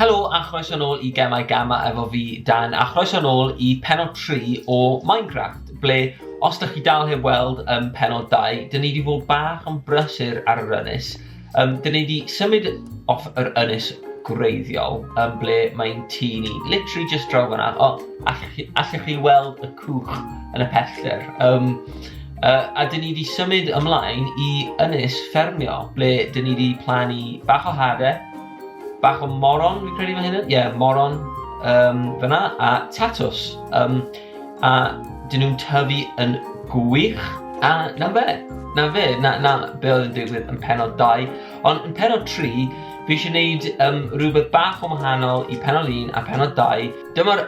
Helo a chroeso nôl i Gemau Gama efo fi, Dan, a chroeso nôl i penod 3 o Minecraft, ble, os da chi dal heb weld um, penod 2, dyn ni wedi bod bach yn brysur ar yr ynys. Um, dyn ni wedi symud off yr ynys gwreiddiol, um, ble mae'n tŷ ni, literally just draw fyna, o, allwch chi, allwch chi weld y cwch yn y pellter. Um, Uh, a dyn ni wedi symud ymlaen i ynys ffermio, ble dyn ni wedi plannu bach o hade, Bach o moron, fi'n credu fan hyn. Ie, yeah, moron um, fyna. A tatws. Um, a dyn nhw'n tyfu yn gwych. A na fe, na fe, na, na be oedd yn digwydd yn penod 2. Ond yn penod 3, fi eisiau gwneud um, rhywbeth bach o wahanol i penod 1 a penod 2. Dyma'r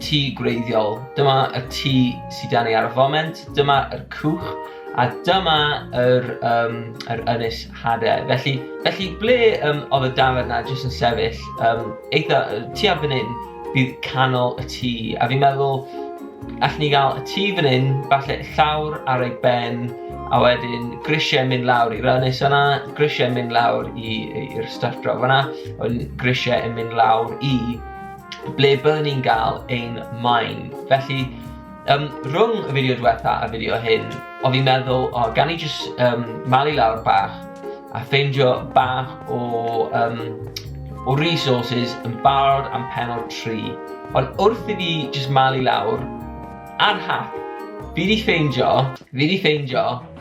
tŷ gwreiddiol, dyma y tŷ sydd dan ni ar y foment, dyma'r cwch, a dyma yr, um, yr ynys Hade. Felly, felly ble um, oedd y dafod na jyst yn sefyll, um, eitha, ti ar fan hyn, bydd canol y tŷ. A fi'n meddwl, allwn ni gael y tŷ fan hyn, falle llawr ar ei ben, a wedyn grisiau mynd lawr i'r ynys yna, grisiau mynd lawr i'r stuff draw yna, a wedyn grisiau yn mynd lawr i ble byddwn ni'n gael ein maen. Felly, Um, rhwng y fideo diwetha a fideo hyn, o fi'n meddwl, o, gan i jyst um, malu lawr bach a ffeindio bach o, um, o resources yn barod am penod 3. Ond wrth i fi jyst malu lawr, ar hap, fi di ffeindio, fi di ffeindio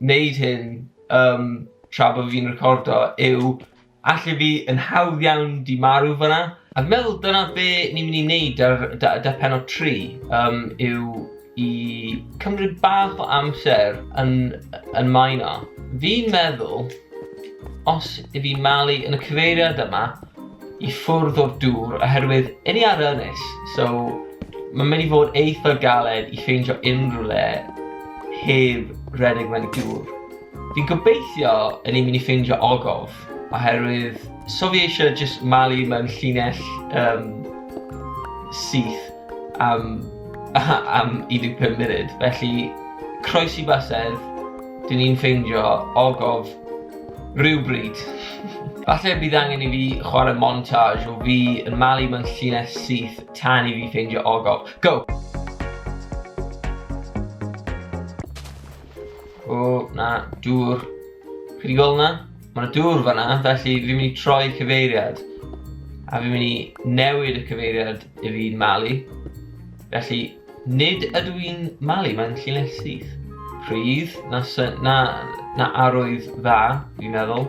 wneud hyn yym tra bod fi'n recordo yw alle fi yn hawdd iawn 'di marw fan'na. A fi'n meddwl dyna be ni'n mynd i wneud ar da- da- pennod tri yym yw i cymryd bach o amser yn yn maeno. Fi'n meddwl os 'yf fi'n malu yn y cyfeiriad yma i ffwrdd o'r dŵr oherwydd 'yn ni ar ynys so ma'n mynd i fod eitha galed i ffeindio unrhyw le heb redeg mewn i gŵr. Fi'n gobeithio yn ni'n mynd i ffeindio ogof, oherwydd so fi eisiau jyst malu mewn llinell um, syth am, am 15 munud. Felly, croes i basedd, dyn ni'n ffeindio ogof rhywbryd. Falle bydd angen i fi chwarae montage o fi yn malu mewn llinell syth tan i fi ffeindio ogof. Go! O, na, dŵr. Chi wedi gweld na? Mae yna dŵr fanna, felly fi'n mynd i troi cyfeiriad. A fi'n mynd i newid y cyfeiriad i fi'n malu. Felly, nid ydw i'n malu, mae'n llinell syth. Pryd, na, na, na arwydd dda, fi'n meddwl.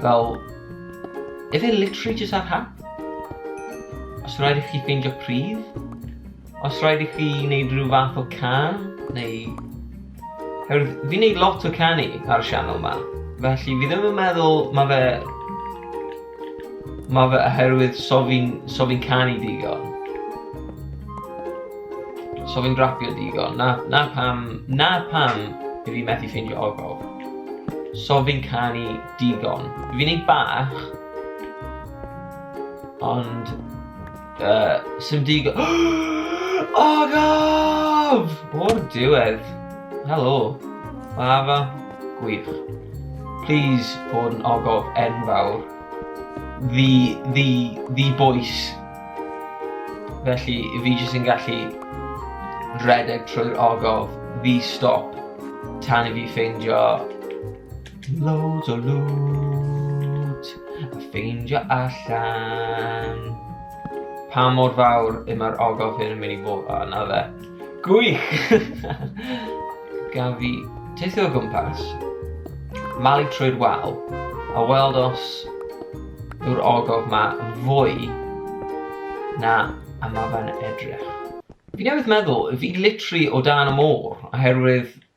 Fel, efe literally jyst ar hap? Os rhaid i chi ffeindio pryd? Os rhaid i chi wneud rhyw fath o can? Neu... Herwydd, fi'n wneud lot o canu ar y sianel ma. Felly, fi ddim yn meddwl mae fe Mae fe oherwydd so fi'n so fi canu digon. So fi'n rapio digon. Na, na pam, na pam i fi methu ffeindio ogof. So fi'n canu digon. Fi'n ei bach, ond Uh, sim digon... Agaf! O'r diwedd. Helo. Fafa. Gwych. Please bod yn ogof enfawr. Ddi, ddi, ddi boes. Felly, fi jyst yn gallu redeg trwy'r ogof, ddi stop, tan i fi ffeindio Loads o loot a ffeindio allan pa mor fawr y mae'r ogof hyn yn mynd i fod. O, na fe. Gwych! Gaf fi teithio o gwmpas, malu trwy'r wal, a weld os yw'r ogof ma yn fwy na a mae fe'n edrych. Fi newydd meddwl, fi literally o dan y môr, oherwydd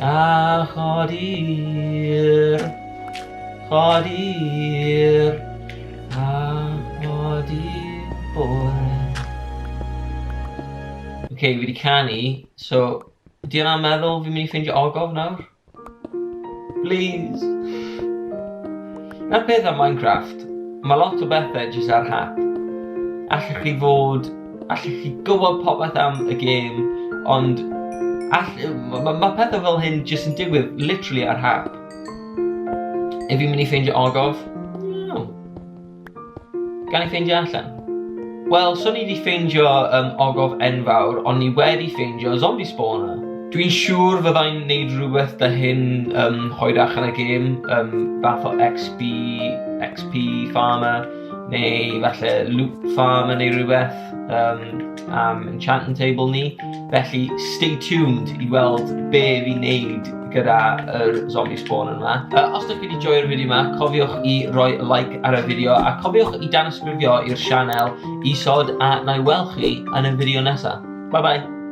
A chodir, chodir, a chodir bore. Oce, okay, fi wedi canu, so, di yna meddwl fi'n mynd i ffeindio ogof nawr? Please! Na'r peth am Minecraft, mae lot o bethau jyst ar hap. Allech chi fod Allwch chi gwybod popeth am y gêm, ond all, mae ma, ma pethau fel hyn jyst yn digwydd literally ar hap. Ef i'n mynd i ffeindio ogof? No. Gan i ffeindio allan? Wel, so ni wedi ffeindio um, ogof enfawr, ond ni wedi ffeindio zombie spawner. Dwi'n siŵr fyddai'n neud rhywbeth da hyn um, hoedach yn y gêm, um, fath o XP, XP farmer, neu falle loop farm yn ei rhywbeth um, am enchantment table ni. Felly, stay tuned i weld be fi'n neud gyda yr zombie spawn yma. Uh, os ydych chi wedi joio'r fideo yma, cofiwch i roi like ar y fideo a cofiwch i danysgrifio i'r sianel isod a na i weld chi yn y fideo nesaf. Bye bye!